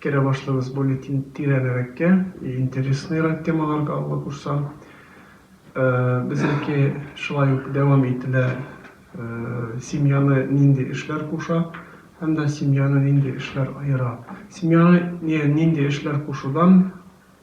Керә башлыйбыз более тирәнрәккә, интересныйрак темаларга Алла кушса. Безнеке шулай ук дәвам ителә, семьяны нинди эшләр куша һәм дә семьяны нинди эшләр аера. Семьяны нинди эшләр кушудан.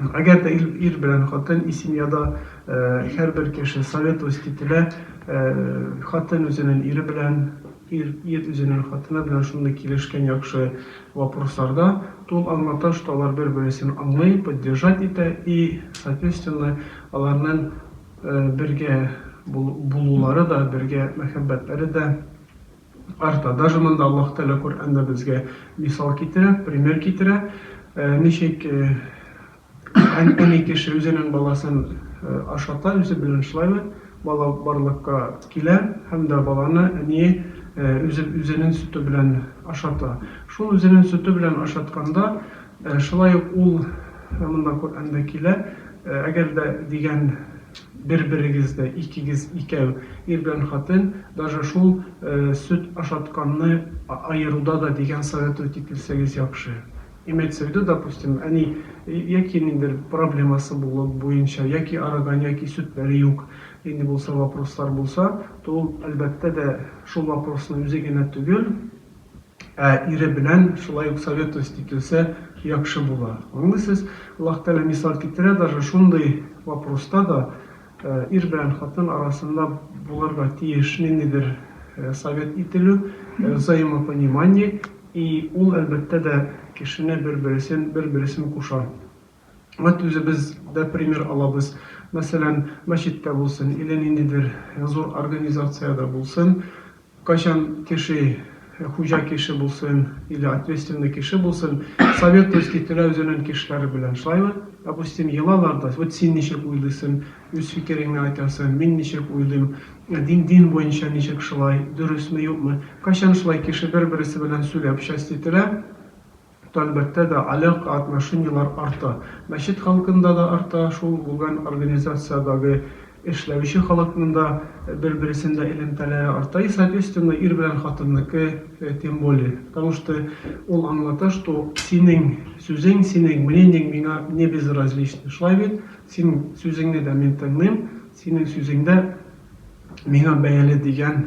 Әгәр дә ир белән хатын и семьяда һәрбер кеше советовать ителә, хатын үзенен ире белән, ир ир үзенен хатыны белән шундый килешкән яхшы вопросларда, то ул аңлата, что алар бер-бересен аңлый, поддержать итә и соответственно аларнын бергә булулары да, бергә мәхәббәтләре дә, Арта. Даже монда Аллаһ Тәгалә Коръәндә безгә мисал китерә, пример китерә, ничек әни кеше үзенең баласын ашата, үзе белән шулаймы, бала барлыкка килә һәм дә баланы әние үзе үзенең сөте белән ашата. Шул үзенең сөте белән ашатканда, Шулай ук ул, монда Коръәндә килә, Әгәр дә дигән бер-берегез дә, икегез, икәү, ир белән хатын, даже шул сөт ашатканны аеруда да дигән советовать ителсәгез яхшы. Имеется в виду, допустим, әни яки ниндидер проблемасы булып, буенча, яки арыган, яки сөтләре юк, нинди булса вопрослар булса, то ул, әлбәттә дә, шул вопросны үзе генә түгел, Ә ире белән шулай ук советовать ителсә яхшы була. Аңлыйсыз, Аллаһ Тәгалә мисал китерә, даже шундый вопроста да ир белән хатын арасында булырга тиеш ниндидер совет ителү, взаимопонимание, и ул, әлбәттә дә, кешене бер-бересен, бер-бересен куша. Вәт үзебез дә пример алабыз. Мәсәлән, мәчеттә булсын, иле ниндидер зур организациядә булсын, кайчан кеше, хуҗа кеше булсын, иле ответственный кеше булсын, советуйский теләү зөнен кешеләре белән шулаймы, допустим, елалар да, вәт син ничек уйлыйсын, үз фикереңне айтасың, мин ничек уйлыйм, дин, дин буенча ничек шулай, дөресме, юкмы, кайчан шулай кеше бер-бересе белән сүләп часть ителә. Әлбәттә дә, алякка отношениелар арта. Мәчет халкында да арта, шул гүгән организациядагы эшләүче халыкның да бер-бересендә элемтәләре арта. И соответственно, ир белән хатынныкы тем более. Потому что ул аңлата, что синең сүзең, синең мнениең миңа не безразлично. Шулай бит? Синең сүзеңне дә мин тыңлыйм, синең сүзең дә миңа бәяле дигән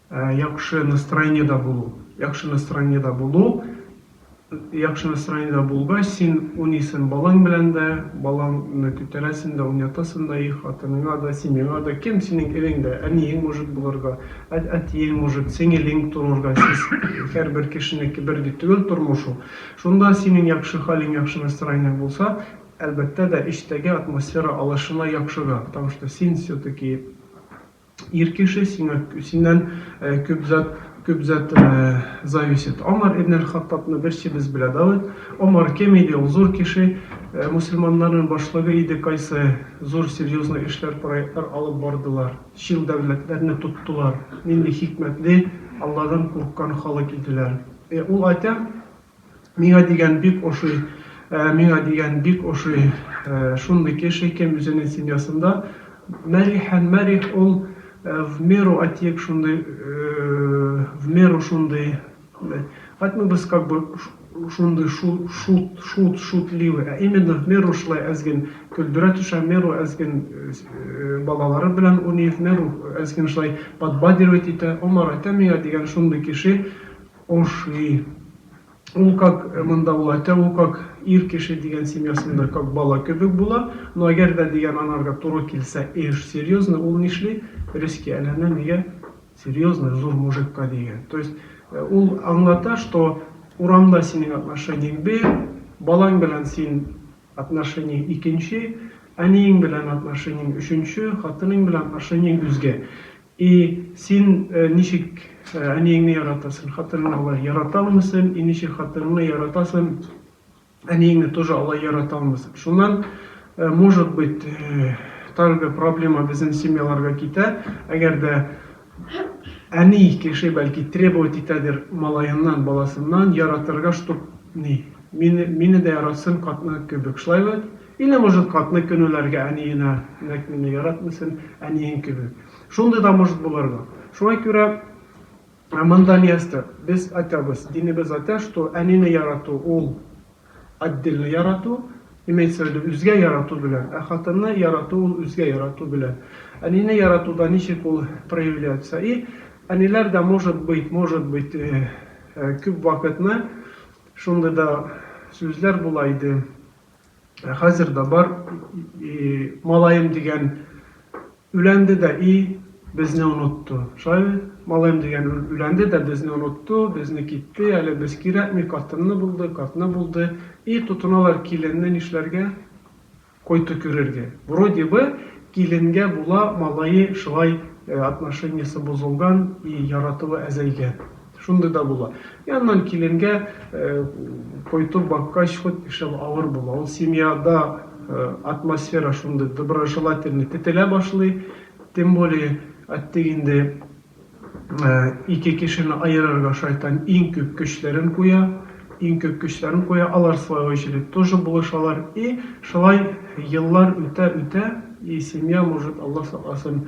Яхшы настроениедә булу. Яхшы настроениедә булу. Яхшы настроениедә булгач, син уйныйсың балаң белән дә, балаңны күтәрәсең дә, уйнатасың да, и хатыныңа да, семьяңа да, кем синең ирең дә, әниең может булырга, әтиең может, сеңелең торырга, сез һәрбер кешенеке бер дә түгел тормыш ул. Шунда синең яхшы хәлең, яхшы настроениең булса, әлбәттә дә, эчтәге атмосфера алышына яхшыга, потому что син все-таки. Ир кеше сиңа синнән күп зат күп зат зависит. Омар ибн әл-Хаттабны берсебез белә, Давыт. Омар кем иде ул? Зур кеше, мусульманнарның башлыгы иде, кайсы зур серьезный эшләр, проектлар алып бардылар, чил дәүләтләрне тоттылар. Нинди хикмәтле, Алладан курыккан халык иделәр. Ул атя Миңа дигән бик ошый Миңа дигән бик ошый Шундый кеше кем үзенең семьясында Мәрихән Мәрих ул в меру отек шундый В меру шундый Кайтмыйбыз как бы шундый Шут шут шутливый Ә именно в меру шулай әзген Көлдерә төшә в меру әзген Балалары белән уйный в меру әзген шулай Подбадривать итә Омар әйтә миңа дигән шундый кеше Ошый. Ул как монда ул әтә ул как ир кеше дигән семьясында как бала кебек була, но әгәр дә дигән анарга туры килсә эш серьезный ул нишли, резкий әйләнә нигә серьезный зур мужикка дигән, то есть ул аңлата что урамда синең отношениең бер, балаң белән син отношениең икенче, әниең белән отношениең өченче, хатынең белән отношениең үзгә. И, син ничек әниеңне яратасын, хатыныңны алай ярата алмыйсын, и ничек хатыныңны яратасын, әниеңне тоже алай ярата алмыйсын. Шуннан, может быть, тагы проблема безнең семьяларга китә, әгәр дә әни кеше бәлки требовать итәдер малаеннан, баласыннан, яратырга, чтоб ни, мине, мине дә яратсын, катны кебек, шулай бит? Или, может, хатны көнүләргә әниенә, Нәк мине яратмыйсың, әниең кебек. Шундый да может булырга. Шуңа күрә монда место. Без айтабыз, динебез айта, что әнине ярату ул отдельно ярату, имеется в виду үзгә ярату белән, ә хатынны ярату ул үзгә ярату белән. Әнине яратуда ничек ул проявляется? И әниләр дә может быть, может быть, күп вакытны шундый да сүзләр була иде. Ә хәзер дә бар, и, малаем дигән үләнде дә, и, безне онытты. Шулай, малаем дигән үләнде дә безне онытты, безне китте, әле без кирәкми, катынны булды, катны булды, и, тотыналар киленне нишләргә, кой төкерергә. Вроде бы киленгә була, малае шулай отношениесе бозылган, и, яратуы әзәйгән. Шундый да була. И аннан киленгә кайту баккач хут ишем авыр була. Ул семьяда атмосфера шундый доброжелательный тетелә башлый. Тем более әттең инде ике кешене аерырга шайтан иң күп көчләрен куя, иң күп көчләрен куя. Алар свою очередь тоже булышалар. И шулай еллар үтә-үтә и семья может Алла сакласын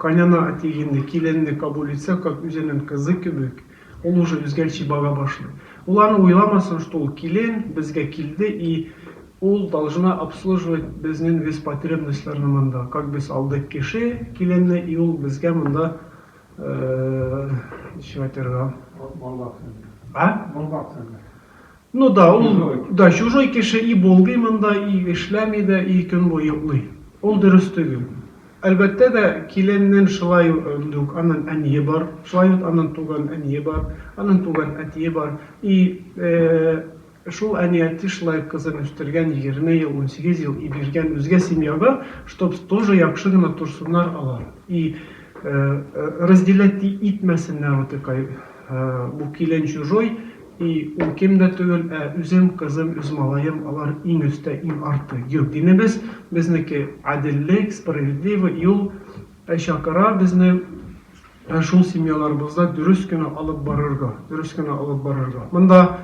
Кайнана әти инде киленне кабул итсә, как үзенен кызы кебек, ул уже үзгәлчи бага башлый. Ул аны уйламасын, что ул килен, безгә килде и ул должна обслуживать безнен весь потребностьларны монда, как без алдык кеше, киленне и ул безгә монда ничек айтырга. Мал баксын. А? Мал баксын. Ну да, ул да чужой кеше, и болгый монда, и эшләми дә, и көн буе йоклый. Ул дөрес төгел. Әлбәттә дә, киленнен шылай үк анын әние бар, шылай үк анын туган әние бар, анын туган әтие бар, и шул әни-әти шылай үк кызын үстергән, егерме ел, унсигез ел, и биргән үзгә семьяга, чтоб тоже яхшы гына торсыннар алар, и разделять итмәсеннәр утыкай, бу килен чужой, И, ул ким дә түгел, ә үзем, кызым, үз малаем, алар иң өстә, иң арты. Юк, динебез, безнеке гаделлек, справедливый юл чакыра безне шул семьяларыбызда дөрес кенә алып барырга, дөрес кенә алып барырга. Монда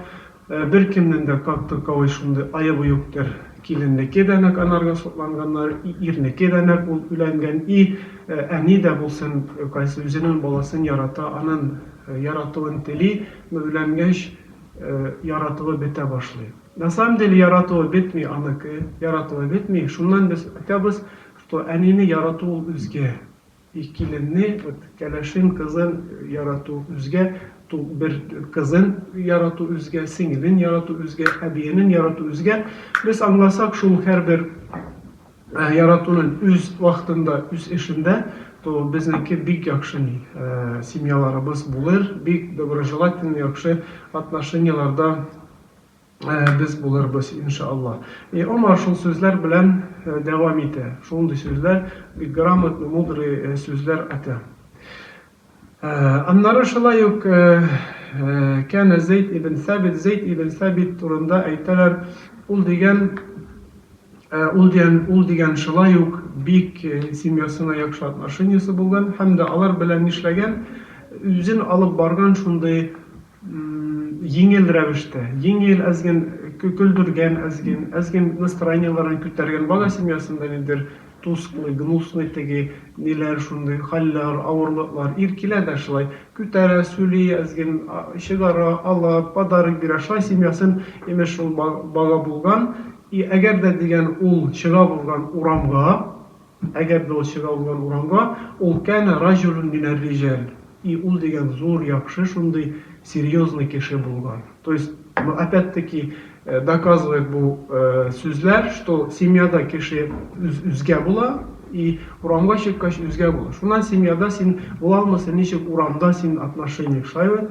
беркемнең дә как таковой шундый аебы юктыр. Киленнеке дә нәкъ анарга сокланганнар, и ирнеке дә нәкъ ул өйләнгән, и әни дә булсын, кайсы үзенең баласын ярата, анын яратуын тели, Өйләнгәч яратуы бетә башлый. На самом деле яратуы бетми аныкы, яратуы бетми, шуннан без айтабыз, что әнине ярату ул үзгә, и киленне вот кәләшен кызын ярату үзгә, ту бер кызын ярату үзгә, сеңелен ярату үзгә, әбиенен ярату үзгә, без аңласак шул һәрбер Ә яратуны үз вакытында үз эшендә то безнеке бик яхшы ни семьяларыбыз булыр бик доброжелательный яхшы отношенияләрдә без булырбыз иншалла и Омар шул сүзләр белән дәвам итә шундый сүзләр бик грамотный мудрый сүзләр атә. Аннары шулай ук Кәнә Зәйд ибн Сәбит, Зәйд ибн Сәбит турында әйтәләр, ул дигән, ул дигән, ул дигән шулай ук бик семьясына яхшы отношениесе булган һәм дә алар белән нишләгән, үзен алып барган шундый Җиңел рәвештә, җиңел, әз ген көлдергән, әз ген, әз ген настроениеләрен күтәргән бала семьясында нидер тусклый, гнусный теге ниләр шундый хәлләр, авырлыклар, ир килә дә шулай күтәрә, сүли, әз ген чыгара, ала, подарок бирә, шулай семьясын, имеш, шул бага булган. И әгәр дә дигән ул чыга булган урамга, Әгәр дә ул чыга булган урамга, ул кәнә раҗулүн мин әр-риҗәл, и ул дигән зур, яхшы, шундый серьезный кеше булган. То есть, ну, опять-таки, доказывает бу сүзләр, что семьяда кеше үз-үзгә була, и урамга чыккач, үзгә була. Шуннан семьяда син була алмыйсың, ничек урамда син отношение шулаймы?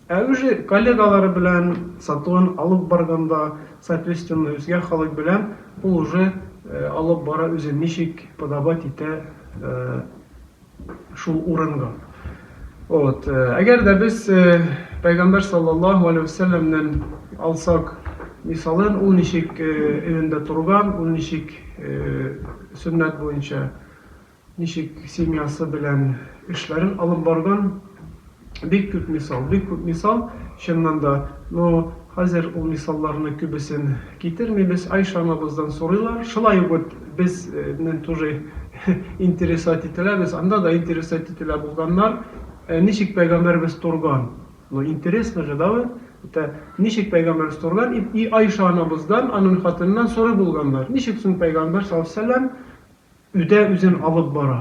Ә үзе коллегалары белән сатуын алып барганда, соответственно, үзгә халык белән ул уже алып бара, үзен ничек подавать итә шул урынга. Вот. Әгәр дә без Пәйгамбәр саллаллаһу алейһи вә сәлләмнән алсак мисалын, ул ничек өендә торган, ул ничек сөннәт буенча Ничек семьясы белән эшләрен алып барган, бик күп мисал, бик күп мисал, чыннан да. Ну, хәзер ул мисалларны күбесен китермибез, Айша анабыздан сорыйлар, шулай ук вот без нен тоже интересовать ителәбез, анда да интересовать ителә булганнар, Ә ничек пәйгамбәребез торган? Ну, интересно же, да вот, это ничек пәйгамбәребез торган? И, и Айша анабыздан, анын хатыныннан сорый булганнар, ничек соң пәйгамбәр саллаллаһу галәйһи ва сәлләм, Үтә үзен алып бара.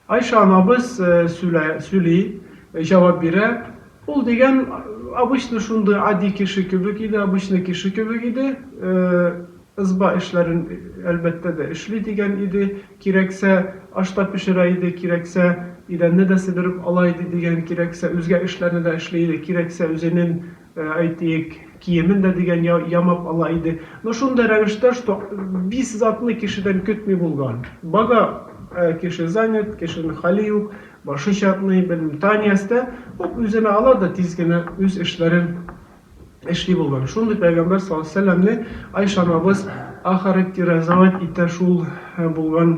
Айша анабыз сүлә, сүли, җавап бирә, Ул дигән обычный шундый ади кеше кебек иде, обычный кеше кебек иде, ызба эшләрен, әлбәттә дә, эшли дигән иде, кирәксә, аш та пешерә иде, кирәксә, идәнне дә себереп ала иде дигән, кирәксә, үзгә эшләрне дә эшли иде, кирәксә, үзенен әйтик, киемен дә дигән яр ямап ала иде. Но шундый рәвештә, что бис затны кешедән көтми булган. Бага кеше занят, кешенең хәле юк, башы чатный, белмим, Танясы да хуп үзенә ала да тиз генә үз эшләрен эшли булган. Шундый пәйгамбәр саллаллаһу алейһи ва сәлләмне Айшанабыз охарактеризовать итә шул булган.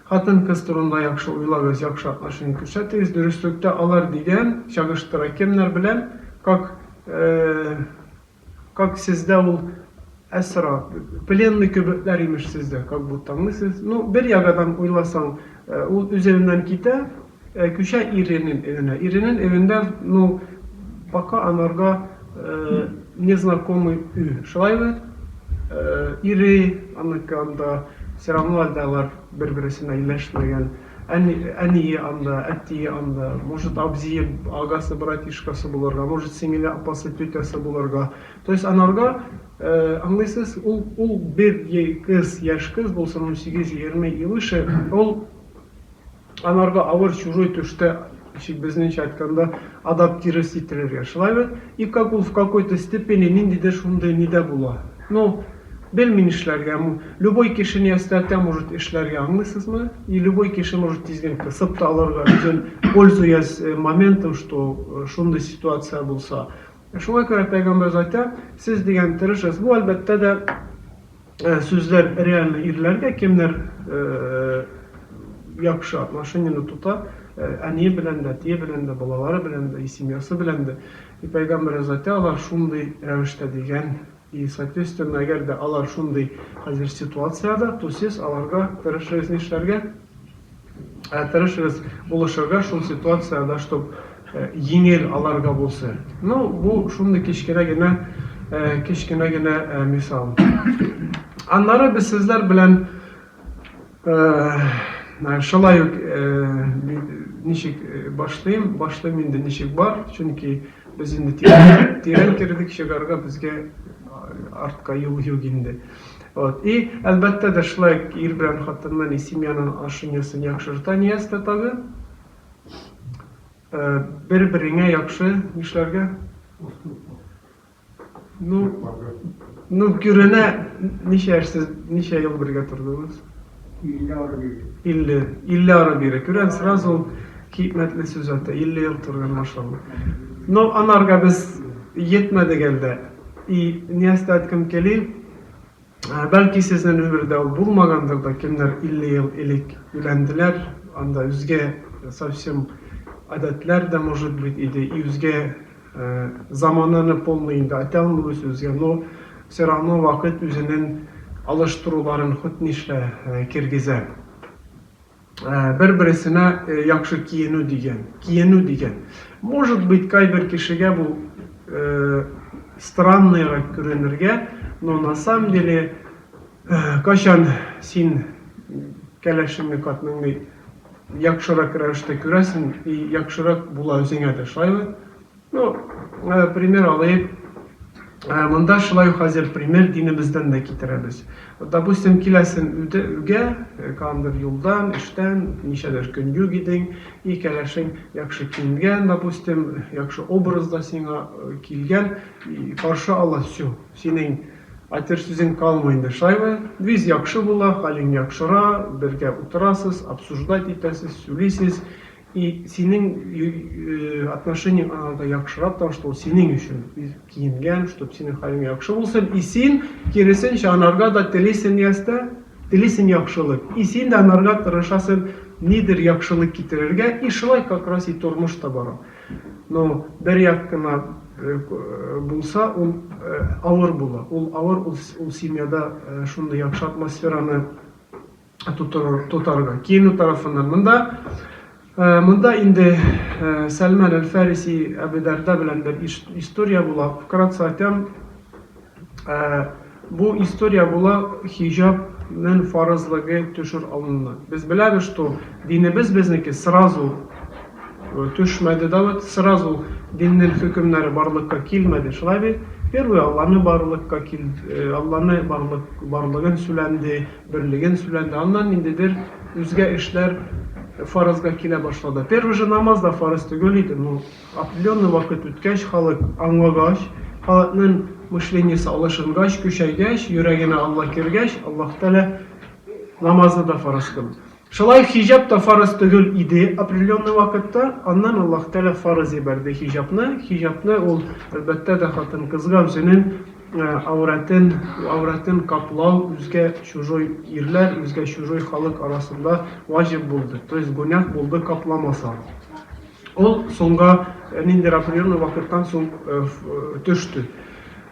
Хатын-кыз турында яхшы уйлагыз, яхшы отношение күрсәтегез, дөреслектә алар дигән чагыштыра кемнәр белән, как, как сездә ул әсра, пленный кебекләр имеш сездә, как будто, аңлыйсыз? Ну, бер ягадан уйласаң, ул үзегеннән китә, Ә күчә иренен эвенә. Иренен эвендә, ну, пока анарга незнакомый үй. Шулай бит? Ире, аныкы анда, все равно әлдә алар бер-бересенә иләшмәгән. Әни, әние анда, әтие анда, может, абзие, агасы, братишкасы булырга, может, сеңеле, апасы, тетясы булырга. То есть анарга, аңлыйсыз, ул, ул бер е кыз, яшь кыз булсын, унсигез, егерме и выше, ул. Анарга авыр чужой төштә, ничек безнеңчә әйткәндә, адаптирыйс ителергә. Шулай бит? И как ул в какой-то степени ниндидер шундый нидә була. Ну, белми нишләргә, м, любой кеше не остатя может эшләргә, аңлыйсызмы? И любой кеше может тиздән кысып та алырга үзен, пользуясь моментом, что шундый ситуация булса. Шуңа күрә Пәйгамбәребез әйтә, Сез дигән тырышыгыз. Бу, әлбәттә дә. сүзләр реально ирләргә кемнәр яхшы отношениене тота әни белән дә әтие белән дә балалары белән дә и семьясы белән дә и пәйгамбәр заты алар шундый рәвештә дигән и соответственно әгәр дә алар шундый хәзер ситуациядә то сез аларга тырышыгыз нишләргә Ә тырышыгыз булышырга шул ситуациядә, чтоб еңел аларга булсы. Ну, бу шундый кечкенә генә, кечкенә генә мисал. Аннары без сезләр белән шулай ук ничек башлыйм, башлыйм инде ничек бар, чөнки без инде тирән кердек, чыгарга безгә артка юл юк инде. Вот. И, әлбәттә дә, шулай ук ир белән хатынны не семьяның ашын-ясын яхшырта не ястә тагы. Э, бер-береңә яхшы нишләргә? Ну, ну, күренә, ничә яшь сез, ничә ел бергә тордыгыз? Илле ары бире. Илле, илле ары бире. Күрән сразу ул хикмәтле сүз ата. Илле ел торган, машалла. Но анарга без йетмәдек әлдә. И, не ястә әйткем кели, Бәлки сезнен өмердә ул булмагандыр да, кемнәр 50 ел элек өйләнделәр, анда үзгә совсем адәтләр дә может быть иде, и үзгә замананы полный инде атә алмыйбыз үзгә, но все равно вакыт үзенен алыштыруларын хут нишлә киргезә. Бер-бересенә яхшы киенү дигән, киенү дигән. Может быть, кайбер кешегә бу странныйрак күренергә, но на самом деле, кайчан син кәләшеңне, катныңны яхшырак рәвештә күрәсең и яхшырак була үзеңә дә, шулаймы? Ну, э, пример алыйк. Э, монда шулай ук хәзер пример динебездән дә китерәбез. Вот, допустим, киләсен үтә үгә, э, кандыр юлдан, эштән, ничәдер көн юк идең, и кәләшең яхшы киенгән, допустим, яхшы образда сиңа э, килгән, и каршы ала все. Синең айтыр сүзең калмый инде. Шулаймы? Виз яхшы була, хәлең яхшыра, бергә утырасыз, обсуждать итәсез, сүлисез. И синең отношениең анарга яхшырак та что синең өчен киенгән чтоб синең хәлең яхшы булсын и син киресенчә анарга да телисең ястә телисең яхшылык и син дә анарга тырышасың нидер яхшылык китерергә и шулай как раз и тормыш та бара но бер як кына булса ул авыр була ул авыр ул семьяда шундый яхшы атмосфераны тотарга. Киенү тарафыннан монда э, монда инде э, Сәлман әл-Фариси Әбүдәрдә белән бер история була. Вкратце айтам, э, бу история була хиҗаб мен фарызлыгы төшер алынды. Без беләбез, что динебез безнеке сразу э, төшмәде да вот сразу диннең хөкемнәре барлыкка килмәде. Шулай бит? Первый Алланы барлыкка кил, э, Алланы барлык барлыгын сүләнде, Берлеген сүләнде. Аннан ниндидер үзгә эшләр фаразга килә башлады. Первый же намаз да фарыз төгел иде, но определенный вакыт үткәч, халык аңлагач, халыкнын мышлениесе алышынгач, көчәйгәч, йөрәгенә Алла кергәч, Аллаһ Тәгалә намазны да фараз кылды. Шулай хиҗаб та фарыз төгел иде определенный вакытта, аннан Аллаһ Тәгалә фарыз җибәрде хиҗабны, хиҗабны ул, әлбәттә дә, хатын-кызга үзенең әүрәтен, әүрәтен каплау үзгә чужой ирләр, үзгә чужой халык арасында ваҗиб булды, то есть гүнях булды капламаса. Ул соңга, ниндидер определенный вакыттан соң төште.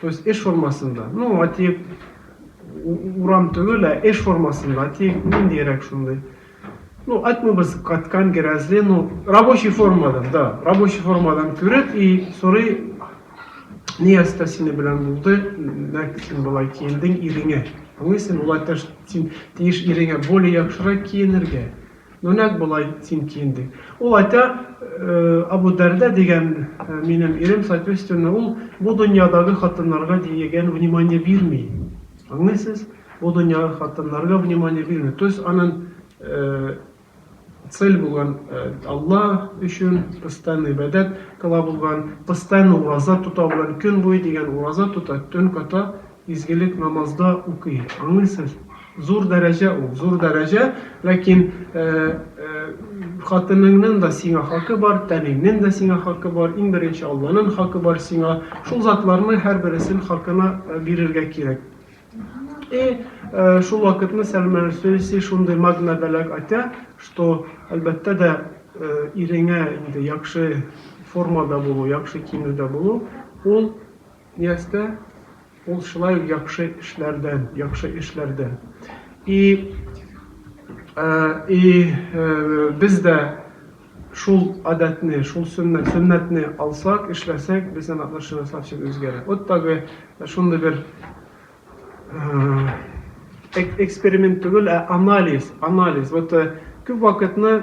То есть эш формасында, ну атиек урам түгел, ә эш формасында, атиек ниндиерәк шундый. Ну, атмыбыз каткан герәзле, ну, рабочий формадан, да, рабочий формадан күреп и сорый, ни яста сине белән булды, нәк син болай киендең иреңә. Аңлыйсың, улай таш син тиеш иреңә более яхшырак киенергә. Ну нәкъ болай син киен, ди. Ул әйтә, Абу Дәрдә дигән минем ирем, соответственно, ул бу дөньядагы хатыннарга диегән внимание бирми. Аңлыйсыз? Бу дөньягы хатыннарга внимание бирми. То есть анын цель булган Алла өчен постоянно ибәдәт кыла булган, постоянно ураза тота булган, көн буе дигән ураза тота, төн ката Изгелек намазда укый, аңлыйсыз? Зур дәрәҗә ул, зур дәрәҗә, ләкин хатыныңның да сиңа хакы бар, тәнеңнең дә сиңа хакы бар, иң беренче Алланың хакы бар сиңа. Шул затларны һәр бересен хакына бирергә кирәк. И шул вакытны Сәлмән Сөлси шундый магна бәләк атя, что әлбәттә дә иреңә инде яхшы формада булу, яхшы киенүдә булу, ул Ястә ул шулай ук яхшы эшләрдән, яхшы эшләрдән. И, и без дә шул адәтне, шул сөннәт, сөннәтне алсак, эшләсәк, безнең отношение совсем үзгәрә. Вот такой шундый бер эксперимент түгел, ә анализ, анализ. Вот күп вакытны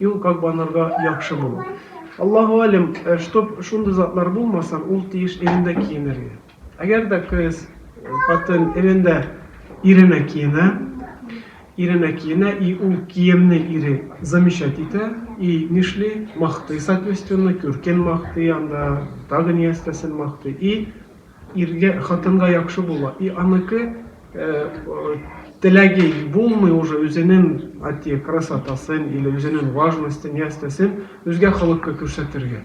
Юл как банарга яхшы булу. Аллаһу алем, чтоб шундый затлар булмаса, ул тиеш ирендә киенергә. Әгәр дә кыз, хатын ирендә иренә киенә, иренә киенә и ул киемне ире замечать итә и нишли, мактый соответственно, күркен мактый анда, тагы ни әстәсен мактый и Иргә, хатынга яхшы була, и аныкы теләге булмый уже үзенен атие красотасын или үзенен важностен ястесен үзгә халыкка күрсәтергә.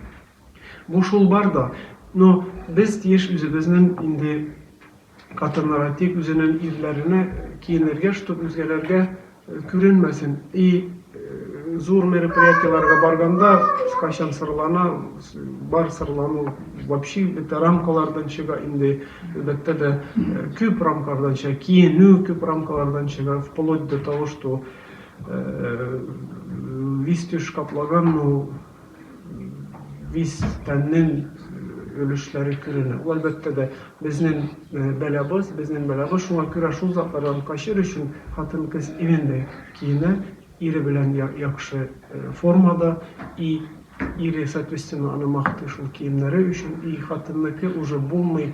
Бу шул бар да, но без тиеш үзебезнен инде хатыннар атик үзенен ирләренә киенергә, чтоб үзгәләргә. Күренмәсен. И зур мероприятиеләргә барганда кайчан сырлана, бар сырлану вообще бөтә рамкалардан чыга инде. Әлбәттә дә күп рамкалардан чыга, киенү күп рамкалардан чыга, вплоть до того, что весь теш каплаган, ну, Вис тәннең өлешләре керенә. Ул, әлбәттә дә, безнең бәлабыз, безнең бәлабыз. Шуңа күрә шул затлардан качыр өчен хатын-кыз иминле киенә, ире белән яхшы формада, и ире, соответственно, аны мактый шул киемнәре өчен, и хатынныкы уже булмый,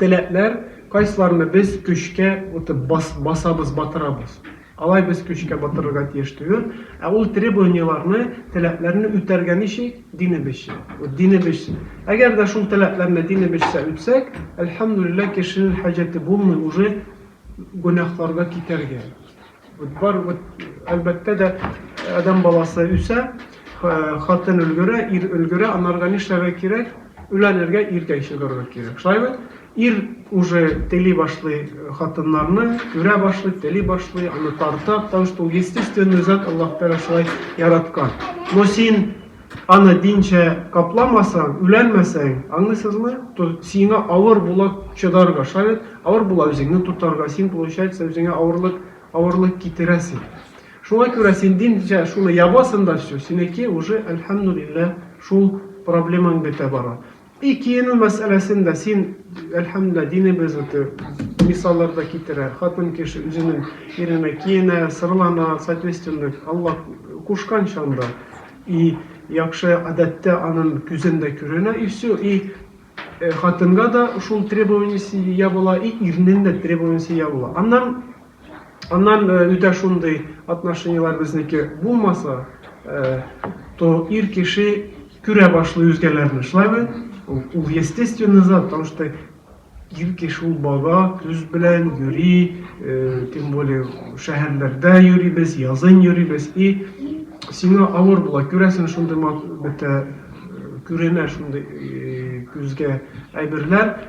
Теләкләр, кайсыларны без көчкә үтеп басабыз, батырабыз. Алай без көчкә батырырга тиеш түгел. Ә ул требованиеләрне, теләкләрне үтәргә ничек? Динебезчә. Динебезчә. Әгәр дә шул теләкләрне динебезчә үтсәк, әлхәмдүлилләһ, кешенең хаҗәте булмый уже гөнаһларга китәргә. Бар вот әлбәттә дә адәм баласы үсә, хатын өлгерә, ир өлгерә, анарга нишләргә кирәк? Үләнергә, иркәк чыгарга кирәк. Шулай бит? Ир уже тели башлый хатыннарны, күрә башлый, тели башлый, аны тарта, потому что ул естественный зат, Аллаһ Тәгалә шулай яраткан. Но син Аны динчә капламасаң, үләнмәсәң, аңлыйсызмы? То сиңа авыр була чыдарга, шаярт, авыр була үзеңне тотарга, син получается үзеңә авырлык, авырлык китерәсең. Шуңа күрә син динчә шуны ябасың да всё, синеке уже, әлхәмдүлилләһ, шул проблемаң бетә бара. И киенү мәсьәләсен дә син, әлхәмдүлилләһ, динебез үте мисаллар да китерә. Хатын кеше үзенең иренә киенә, сырлана, соответственно, Алла кушкан чанда. И яхшы адәттә анын күзен дә күренә, и все, и хатынга да шул требованиесе ябыла, и ирнен дә требованиесе ябыла. Аннан Аннан үтә шундый отношениеләр безнеке булмаса, то ир кеше күрә башлый үзгәләрне. Шулаймы? Ул естественный зат, потому что ир кеше ул бала, күз белән йөри, тем более шәһәрләрдә йөрибез, язын йөрибез и сиңа авыр була, күрәсең шундый бетә күренә шундый күзгә әйберләр.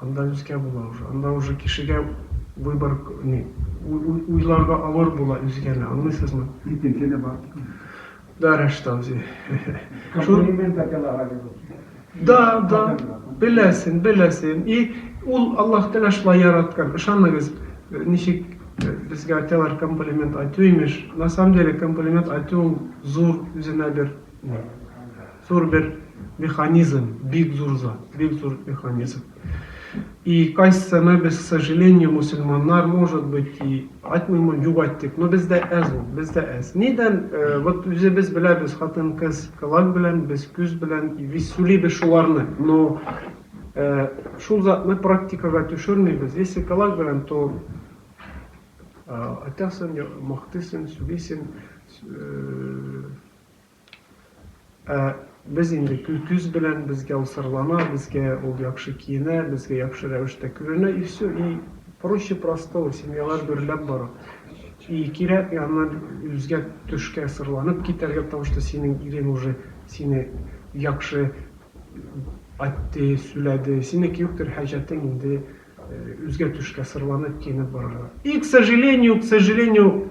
Анда үзгә була уже. Анда уже кешегә выбор ни, уйларга авыр була үзгәне, аңлыйсызмы? Икенче дә бар бит. Да, Рәштау зи. Комплимент әтәләр әле бу. Да, да. Беләсен, беләсен. И ул Аллаһ Тәгалә шулай яраткан. Ышаныгыз, ничек безгә әтәләр комплимент әйтү имеш. На самом деле комплимент әйтү ул зур үзенә бер ни. Зур бер механизм, бик зур зат, бик зур механизм. И кайсыны без, к сожалению, мусульманнар, может быть, и айтмыйм, югайттык, но бездә әз ул, бездә әз. Нидән, вот үзебез беләбез, хатын кыз колак белән, без күз белән, и без сүлибез шуларны, но шул затны практикага төшермибез, если колак белән, то айтасың, мактыйсың, сүлисең, Ә без инде көл күз белән безгә ул сырлана, безгә ул яхшы киенә, безгә яхшы рәвештә көрәнә и все, и проще простого, семьялар гөрләп бара. И кирәкми аннан үзгә төшкә сырланып китәргә, потому что синең ирең уже сине яхшы айтты, сүләде, синеке юктыр хаҗәтең инде үзгә төшкә сырланып киенеп барырга. И к сожалению, к сожалению.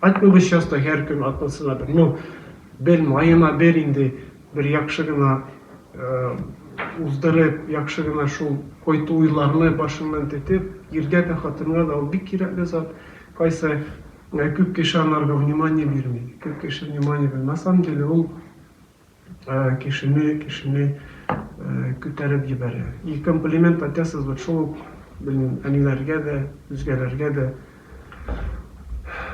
Айтмыгыз часто һәр көн атнасына бер, ну, бел, маена бер инде, бер яхшы гына уздырып, яхшы гына шул койту уйларны башыннан тетеп, иргә дә, хатынга да ул бик кирәкле зат, кайсы күп кеше анарга внимание бирми, күп кеше внимание бирми, на самом деле ул. Кешене, кешене күтәреп җибәрә. И комплимент айтасыз вот шул ук, белмим, әниләргә дә, үзгәләргә дә.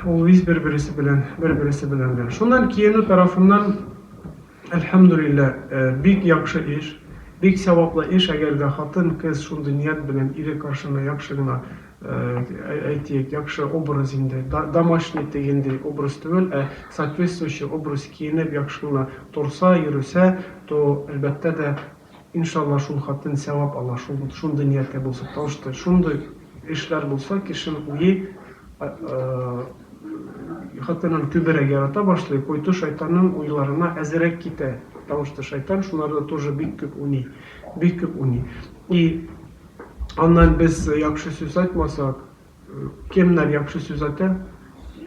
Ул виз бер-бересе белән, бер-бересе белән дә. Шуннан киенү тарафыннан, әлхәмдүлилләһ, бик яхшы эш, бик сәваплы эш, әгәр дә хатын-кыз шундый ният белән ире каршына яхшы гына әйтик, яхшы образ инде, домашний дигәндәй образ түгел, ә соответствующий образ киенеп, яхшы гына торса, йөресә, то, әлбәттә дә, иншалла, шул хатын сәвап ала, шул, шундый нияткә булса, тау что шундый эшләр булса, кешенең уе хатынын күберәк ярата башлый, куйты шайтанның уйларына әзерәк китә, тау что шайтан шуларны тоже бик күп уйный, бик күп уйный. И Аннан без яхшы сүз айтмасак, кемнәр яхшы сүз айта?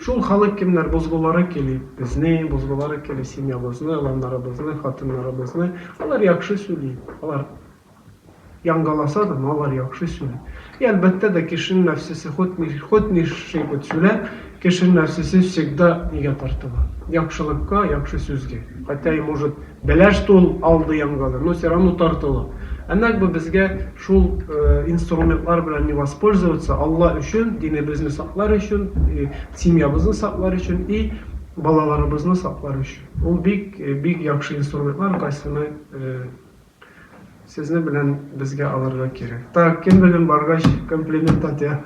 Шул халык кемнәр бозгулары кили, безне бозгулары кили, семьябызны, аланнарыбызны, хатыннарыбызны. Алар яхшы сөйли, алар яңгаласа да, но алар яхшы сөйли. И әлбәттә дә кешенең нәфсесе хут ни хут ни ши хут сүлә, кешенең нәфсесе всегда нигә тартыла? Яхшылыкка, яхшы сүзгә. Хотя и может Бәләш тә ул алды янгады, но все равно тартылу. Ә нәкъ бу безгә шул инструментлар белән не воспользоваться, Алла өчен, динебезне саклар өчен, семьябызны саклар өчен и балаларыбызны саклар өчен. Ул бик, бик яхшы инструментлар, кайсыны Сезне белән безгә алырга кирәк. Так, кем белән баргач комплимент атя?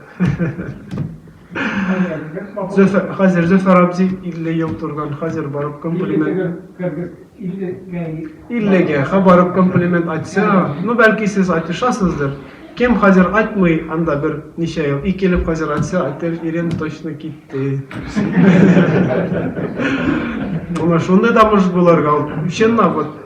Хәзер Зөфәр абзи 50 ел турган, хәзер барып комплимент. 50 гә, ха барып комплимент атса, ну бәлки сез атышасыздыр. Кем хәзер атмый, анда бер ничә ел, ике ел хәзер атса, атер Ирен точно китте. Моны шундый да мужик буларга, чынлап вот.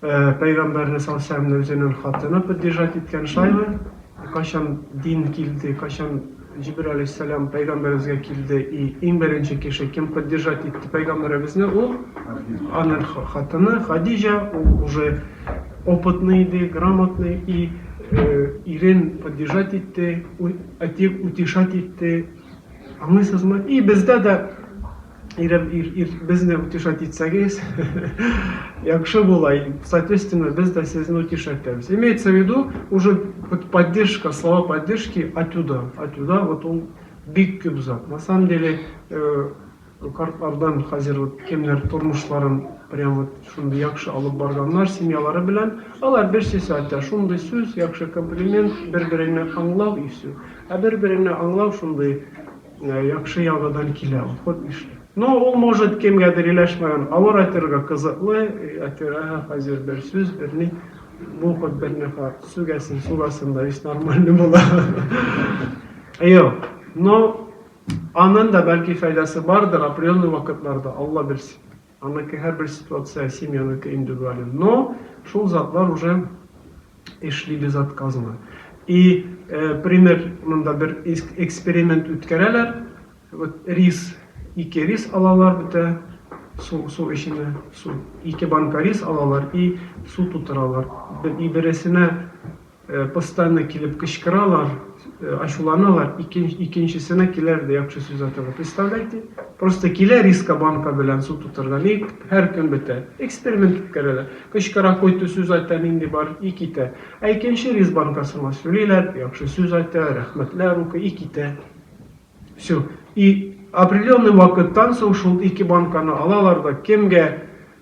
Пәйгамбәрне салләһу үзенең хатыны поддержать иткән шайлы, кайчан дин килде, кайчан Җибрил алейһиссәлам пәйгамбәребезгә килде и иң беренче кеше кем поддержать итте пәйгамбәребезне ул аның хатыны Хадиҗа, ул уже опытный иде, грамотный и ирен поддержать итте, әйтик утешать итте, аңлыйсызмы? И бездә дә Ирем, ир, ир, безне утешать итсәгез, яхшы була, и, соответственно, без дә сезне утешать итәбез. Имеется в виду, уже вот поддержка, слова поддержки отюда, отюда, вот ул бик күп зат. На самом деле, э, картлардан хәзер вот кемнәр тормышларын прям вот шундый яхшы алып барганнар семьялары белән, алар берсесе әйтә, шундый сүз, яхшы комплимент, бер-береңне аңлау и все. Ә бер-береңне аңлау шундый Яхшы ягыдан килә ул, хут нишлим. Ну, ул может кемгәдер иләшмәгән авыр әйтергә кызыклы, әтирәһе хәзер бер сүз, берни, бу хут берни хат, сүгәсен сугасын да весь нормальный була. Юк, ну, анын да бәлки файдасы бардыр определенный вакытларда, Алла белсен. Аныкы һәрбер ситуация семьяныкы индивидуален, но шул затлар уже эшли безотказно. И пример монда бер эксперимент үткәрәләр, вот рис, ике рис алалар бетә, су, су эченә, су, ике банка рис алалар и су тутыралар, и бересенә, Постоянно килеп кычкыралар, ачуланалар, икенчесенә киләр дә яхшы сүз аталар. Представляете? Просто килә риска банка белән су тутырган, и һәр көн бетә. Эксперимент үткәрәләр. Кычкыра, коту сүз айта, нинди бар, и китә. Ә икенче рис банкасына сүлиләр, яхшы сүз айта, рәхмәтләр укый, и китә. Всё. И определенный вакыттан соң шул ике банканы алалар да кемгә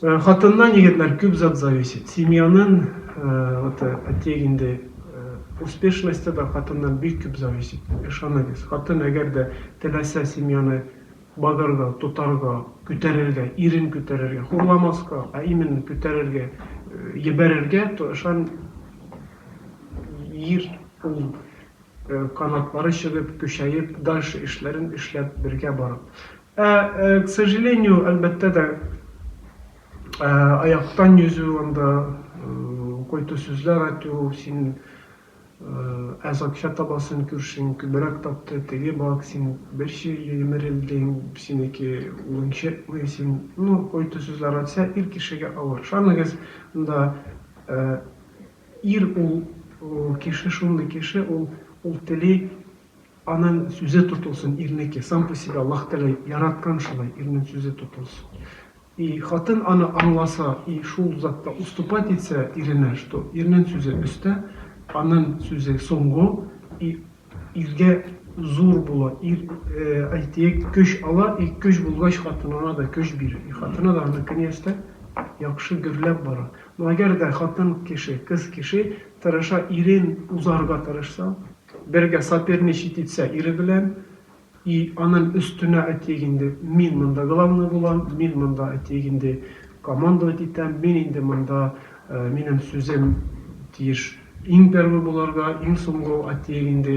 Хатыннан егетләр күп зат зависит. Семьянын вот әти инде успешносте да хатыннан бик күп зависит. Ышаныгыз, хатын әгәр дә теләсә семьяны багарга, тотарга, күтәрергә, ирен күтәрергә, хурламаска, ә именно күтәрергә, йибәрергә, то ышан ир ул канатлары чыгып, көчәеп, дальше эшләрен эшләп, бергә барып. Ә, к сожалению, әлбәттә дә, аяктан йөзү анда, кой-то сүзләр атю, син әз акча табасың, күршең күбрәк тапты, теге бак, син бер чирле емерелдең, синеке улың чыкмый, син, ну, кой-то сүзләр атсә, ир кешегә авыр. Ышаныгыз, анда ир ул кеше шундый кеше, ул, ул тели, Аның сүзе тотылсын ирнеке, сам по себе Аллаһ Тәгалә яраткан шулай, ирнең сүзе тотылсын. И хатын аны аңласа и шул затта уступать итсә иренә, что ирнең сүзе өстә, аның сүзе соңгы, и иргә зур була, ир, әйтик, көч ала, и көч булгач хатынына да көч бирә, и хатыны да аны көниястә яхшы гөрләп бара. Но әгәр дә хатын кеше, кыз кеше тырыша, ирен узарга тырышса, Бергә соперничать итсә ире белән, и анын өстенә әйтик инде, мин монда главный булам, мин монда әйтик инде командовать итәм, мин инде монда минем сүзем тиеш иң первый булырга, иң соңгы әйтик инде,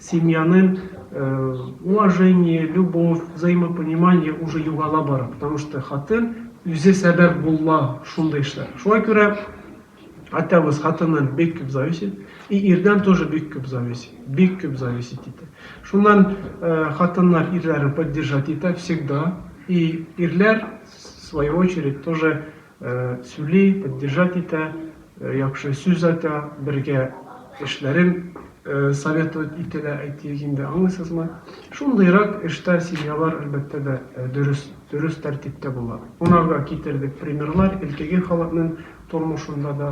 Семьяны уважение, любовь, взаимопонимание уже югала бара, потому что хатын үзе сәбәп була шундый эшләр. Шулай күрә атабыз хатыннан бик күп зависит, и ирдән тоже бик күп зависит, бик күп зависит итә. Шуннан э, хатыннар ирләрен поддержать итә всегда, и ирләр в свою очередь тоже Сүли, поддержать итә, яхшы сүз айта, бергә эшләрен советовать итәлә, әйтик инде, аңлыйсызмы? Шундыйрак эштә семьялар, әлбәттә дә, дөрес, дөрес тәртиптә була. Кунарга китердек примерлар элкеге халыкның тормышында да.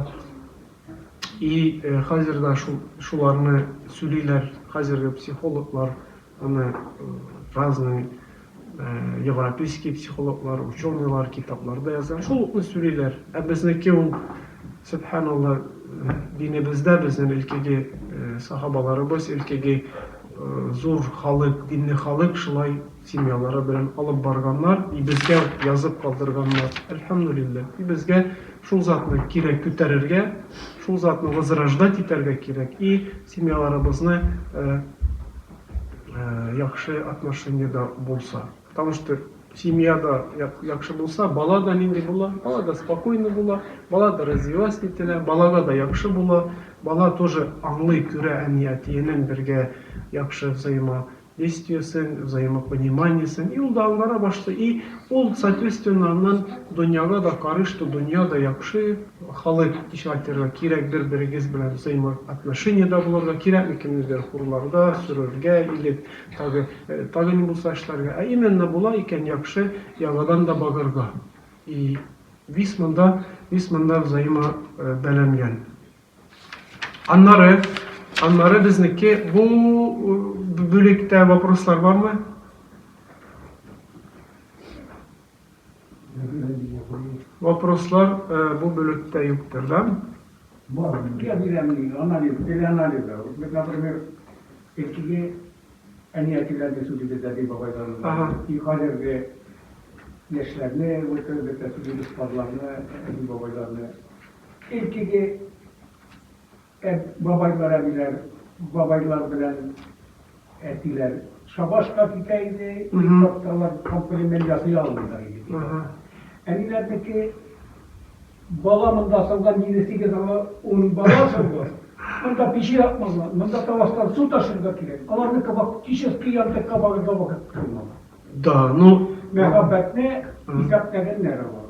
И хәзер дә шул, шуларны сүлиләр хәзерге психологлар. Аны разный европейский психологлар, ученыйлар китапларда яза. Шул укны сүлиләр. Ә безнеке ул, сөбханалла, динебездә безнең илкеге сахабаларыбыз, илкеге зур халык, динле халык шулай семьялары белән алып барганнар, и безгә язып калдырганнар. Әлхәмдүлилләһ. И безгә Шул затны кирәк күтәрергә, шул затны возрождать итәргә кирәк и семьяларыбызны яхшы отношениедә булса. Потому что семьяда яхшы булса, бала да нинди була, бала да спокойный була, бала да развиваться ителә, балага да яхшы була, бала тоже аңлый, күрә әни-әтиенең бергә яхшы взаимо Естиесең, взаимопониманиесең, и ул да аңгара башлый, и ул, соответственно, аннан дөньяга да карый, что дөнья да яхшы, халык, ничек айтырга, кирәк бер-берегез белән взаимоотношениедә булырга, кирәкми кемнедер хурларга, сөрергә или тагы, тагы ни булса эшләргә, ә именно була икән яхшы яңадан да багырга. И вис монда, вис монда взаимобәләнгән. Аннары, аннары безнеке бу бүлектә вопрослар бармы? Вопрослар бу бүлектә юктыр, да? Бар. Я бирәм анализ, телеанализ. Вот, например, эчкеге әни әтиләрне сүз итә дәби бабайларны. И хәзерге яшьләрне, вот, бетә сүз итә бабайларны, әби бабайларны. Иртүге әб бабайлар әбиләр бабайлар белән әтиләр шабашка китә иде, ир чакталар комплимент ясый алмыйлар иде бит алар. Әниләрнеке бала монда салган җиде сигез ала ун бала салды. Монда пече якмадылар, монда таваштан су ташырга кирәк. Аларныкы фактически янтыкка барырга вакыт калмады. Да, ну. Мәхәббәтне исәпләгәннәр алар.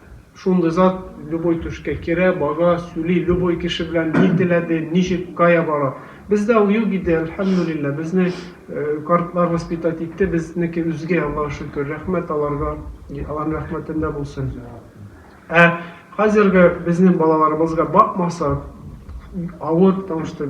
Шундый зат любой түшкә керә, бага, сүли, любой кеше белән ни теләде, ничек, кая бара. Бездә ул юк иде, әлхәмдүлилләһ, безне картлар воспитать итте, безнеке үзгә, Аллага шөкер, рәхмәт аларга, Аллаһның рәхмәтендә булсын. Ә хәзерге безнең балаларыбызга бакмасак, авыр, потому что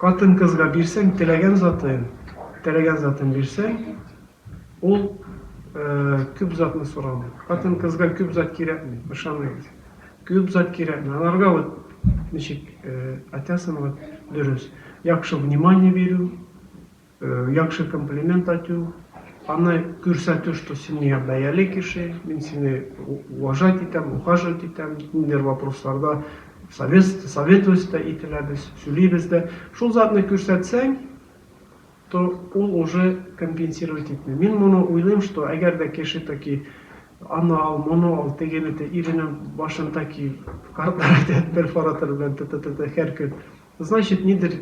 Хатын-кызга бирсәң теләгән затын, теләгән затын бирсәң, ул күп затны сорамый. Хатын-кызга күп зат кирәкми, ышаныгыз. Күп зат кирәкми. Аларга вот ничек атясынмы дөрес, яхшы внимание бирү. Яхшы комплимент айту, аны күрсәтү, что син миңа бәяле кеше, мин сине уважать итәм, ухаживать итәм, ниндидер вопросларда советовать та ителәбез, сөйлибез дә. Шул затны күрсәтсәң, то ул уже компенсировать итми. Мин моны уйлыйм, что әгәр дә кеше таки аны ал, моны ал, тегене тел, иренең башын таки картларак итеп, перфоратор белән т-т-т-т һәр көн Значит нидер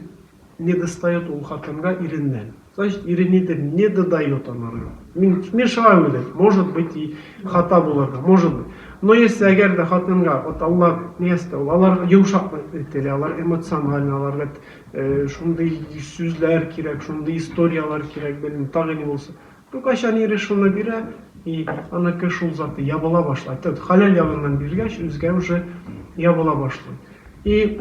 недостает ул хатынга иреннән. Значит ире нидер недодает анарга. Мин мешаю иде. Может быть и хата булырга. Может быть. Но если әгәр дә хатынга вот алар место ул алар йомшак ителә, алар эмоциональ, аларга э, шундый сүзләр кирәк, шундый историяләр кирәк, белмим, тагы ни булса. Ну, кайчан ире шуны бирә, и аныкы шул заты ябыла башлай. Тот халәл ягыннан биргәч, үзгә уже ябыла башлый. И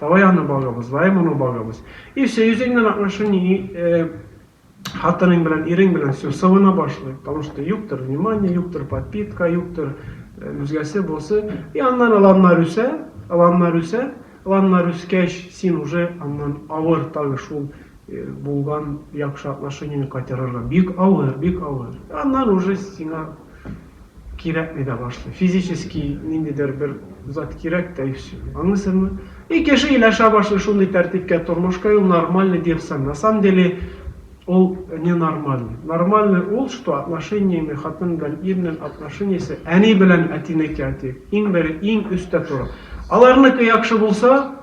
Давай аны багыбыз, давай моны багыбыз. И все, йөзеңнән акмышы ни, и хатының белән, ирең белән все, сывына башлый. Потому что юктыр внимание, юктыр подпитка, юктыр үзгәсе, босы. И аннан аланнар үсә, аланнар үсә, аланнар үскәч, син уже аннан авыр тагы шул булган яхшы отношениене кайтарырга. Бик авыр, бик авыр. Аннан уже сиңа Кирәкми дә башлый. Физически ниндидер бер зат кирәк тә и все. Аңлыйсызмы? И кеше иләшә башлый шундый тәртипкә, тормышка, и ул нормальный диерсең. На самом деле ул не нормальный. Нормальный ул, что отношениями хатын белән ирнең отношениясе әни белән әтинеке, әти, иң бере, иң өстә тора. Аларныкы яхшы булса,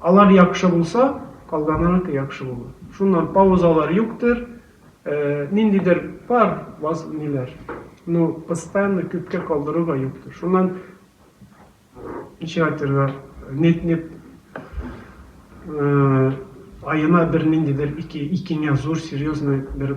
Алар яхшы булса, калганыныкы яхшы булыр. Шуннан паузалар юктыр, ниндидер пар ваз ниләр, ну постоянно күпкә калдыру да юктыр. Шуннан ничек әйтергә, нет-нет аена бер ниндидер ике икеңә зур серьезный бер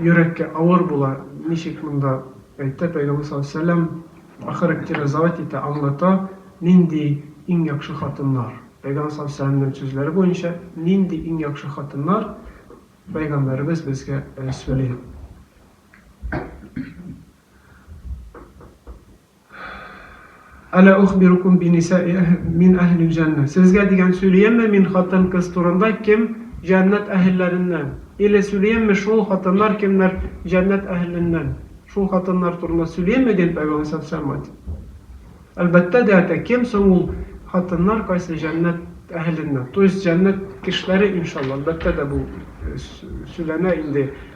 Йөрәккә авыр була, ничек монда әйтә, пәйгамбәр саллаллаһу алейһи вәсәлләм охарактеризовать итә, аңлата, нинди иң яхшы хатыннар. Пәйгамбәр саллаллаһу алейһи вәсәлләмнең сүзләре буенча, нинди иң яхшы хатыннар, пәйгамбәребез безгә сөйли. Әлә ухбирукум бинисаи әһ мин әһлил җәннә. Сезгә дигән сүлиемме мин хатын-кыз турында кем җәннәт әһелләреннән? Иле сүлиемме шул хатыннар кемнәр җәннәт әһеленнән? Шул хатыннар турында сүлиемме дин пәйгамбәр сал сәламәт. Әлбәттә дә әтә, кем соң ул хатыннар кайсы җәннәт әһеленнән? То есть җәннәт кешеләре иншалла, әлбәттә дә бу сүләнә инде.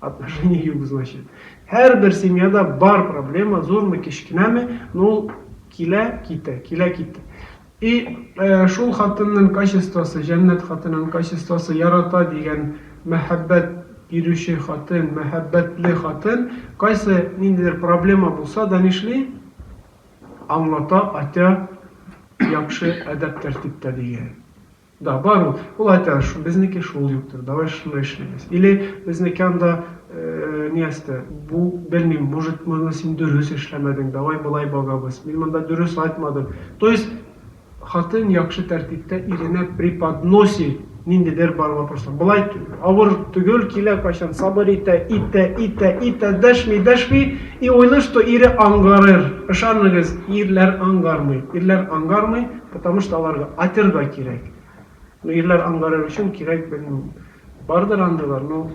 Отношения юк, значит. Һәрбер семьяда бар проблема, зурмы, кечкенәме, но ул килә, китә, килә, китә. И шул хатынның качествосы, җәннәт хатынын качествосы, ярата дигән мәхәббәт бирүче хатын, мәхәббәтле хатын, кайсы ниндидер проблема булса да нишли? Аңлата, атя, яхшы әдәп-тәртиптә дигән. Да, бар ул. Ул айта, шу, безнеке шул юктыр, давай шуны эшлибез. Или безнеке анда, э, ниясте, бу, белмим, может, моны син дөрес эшләмәдең, давай болай багабыз, мин монда дөрес айтмадым. То есть, хатын яхшы тәртиптә иренә преподноси ниндидер бар вопрослар. Болай авыр түгел, килә кайчан сабыр итә, итә, итә, итә, дәшми, дәшми, и уйлый, что ире ангарыр. Ышаныгыз, ирләр ангармый, ирләр ангармый. Потому что аларга атер да кирәк. Ну ирләр анлары өчен кирәк белмим. Бардыр андыйлар, но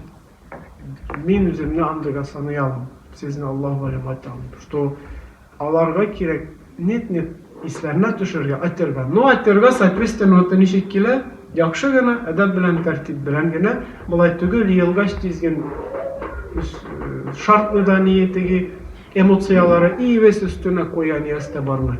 мин үземне андыйга саный алмыйм. Сезне Аллаһ галим айта алмыйм. Что аларга кирәк нет нет исләренә төшерергә атер да. Ну атер да соответственно ноты ничек килә? Яхшы гына, әдәп белән, тәртип белән генә. Болай түгел, еелгач тиз ген шартны да ни теге эмоцияләре и весь өстенә куя нияз тә бармый.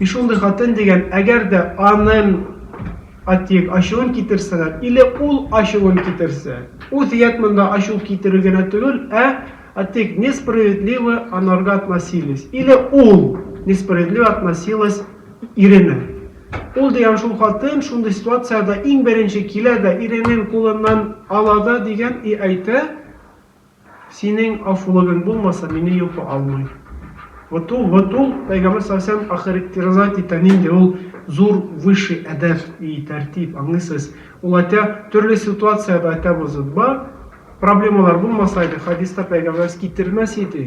И шундый хатын дигән, әгәр дә анын атиек ачуын китерсәләр, иле ул ачуын китерсә, ул дият монда ачу китерү генә түгел, ә атиек несправедливо анарга относились, иле ул несправедливо относилось иренә. Ул дигән шул хатын шундый ситуациядә иң беренче килә дә иренен кулыннан ала да дигән и әйтә, Синең афулыгың булмаса мине йокы алмый. Вот ул, вот ул, Пәйгамбәр саллаллаһу галәйһи ва сәлләм охарактеризать итә нинди ул зур, высший әдәп и тәртип, аңлыйсыз? Ул әйтә, төрле ситуациядә әйтәбез ут бар, проблемалар булмаса иде, хәдистә пәйгамбәребез китермәс иде.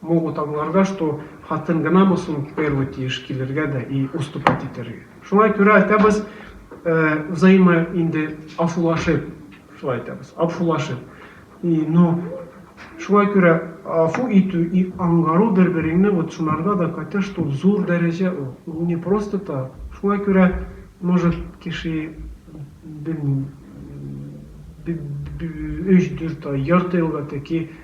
Могут аңларга, что хатын гынамы соң в первый тиеш килергә дә и уступать итәргә. Шуңа күрә әйтәбез, взаимо инде афулашып, шулай әйтәбез, абфулашып. И, ну, шуңа күрә афу итү и аңгару бер-береңне вот шуларда да катя что зур дәрәҗә ул. Ул не просто так. Шуңа күрә, может, кеше, белмим, өч-дүрт ай, ярты елга тәки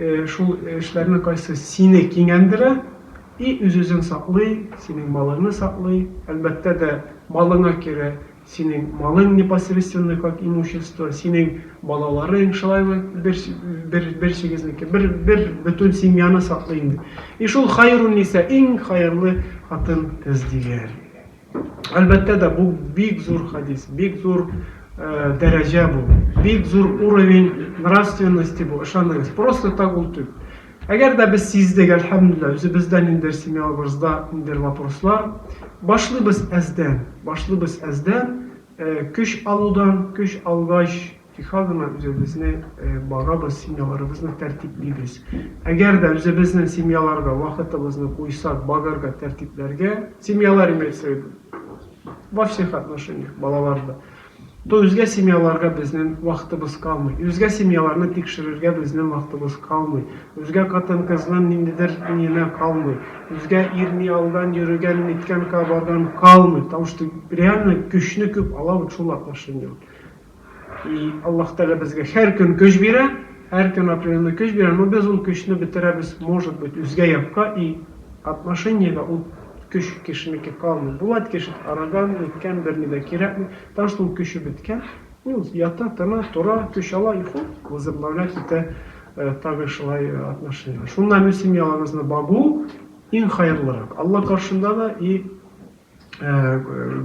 Шул эшләрнең кайсы сине кинәндерә и үз-үзен саклый, синең малыңны саклый, әлбәттә дә, малыңа керә, синең малың непосредственно как имущество, синең балаларың, шулай ук бер бер берсегезнеке, бер бер бөтен семьяны саклый инде. И шул хәйрун ниса, иң хәерле хатын кыз дигән. Әлбәттә дә, бу бик зур хадис, бик зур дәрәҗә бу, бик зур уровень нравственности бу, ышаныгыз, просто так ул түгел. Әгәр дә без сиздек, әлхәмдүлилләһ, үзебездә ниндер семьябызда ниндер вопрослар, башлыйбыз әздән, башлыйбыз әздән, көч алудан, көч алгач, Тик һәр заман үзебезне багабыз, семьяларыбызны тәртиплибез. Әгәр дә үзебезнең семьяларга вакытыбызны куйсак, багарга, тәртипләргә, семьялар имеется в виду, во всех отношениях, балалар да, то үзгә семьяларга безнең вакытыбыз калмый. Үзгә семьяларны тикшерергә безнең вакытыбыз калмый. Үзгә катын-кызның ниндидер ниенә калмый. Үзгә ир ни алдан йөрегән, ниткән кабарган, калмый. Потому что реально көчне күп ала вот шул отношениеләр. И Аллаһ Тәгалә безгә һәр көн көч бирә, һәр көн определенный көч бирә, но без ул көчне бетерәбез, может быть, үзгә якка и отношениедә ул көч кешенеке калмый. Булат кеше арыган, үткән, берни дә кирәкми, потому что ул көче беткән, ул ята, тына, тора, көч ала и хуп, возобновлять итә тагы шулай отношениене. Шуннан үз семьяларыгызны багу иң хәерлерәк. Алла каршында да и Ә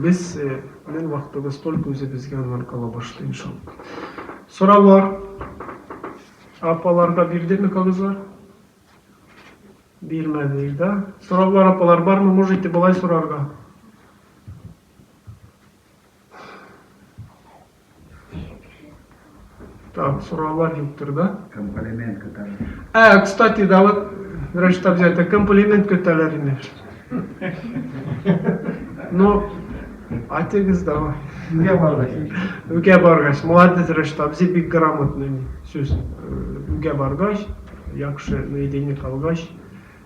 без белән вакытыбыз только үзебезгә аннан кала башлый иншалла. Сораулар апаларга бирдеме кагызлар? Бирмәде, да? Сораулар апалар бармы? Можете болай сорарга. Так, сораулар юктыр да? Комплимент көтәләр. Ә, кстати, да вот, врач там взять, комплимент көтәләр инде. Ну, атегез давай. Үгә баргач. Үгә баргач. Молодец, врач там, зи бик грамотный сүз. Э, Үгә баргач, яхшы, наедине калгач.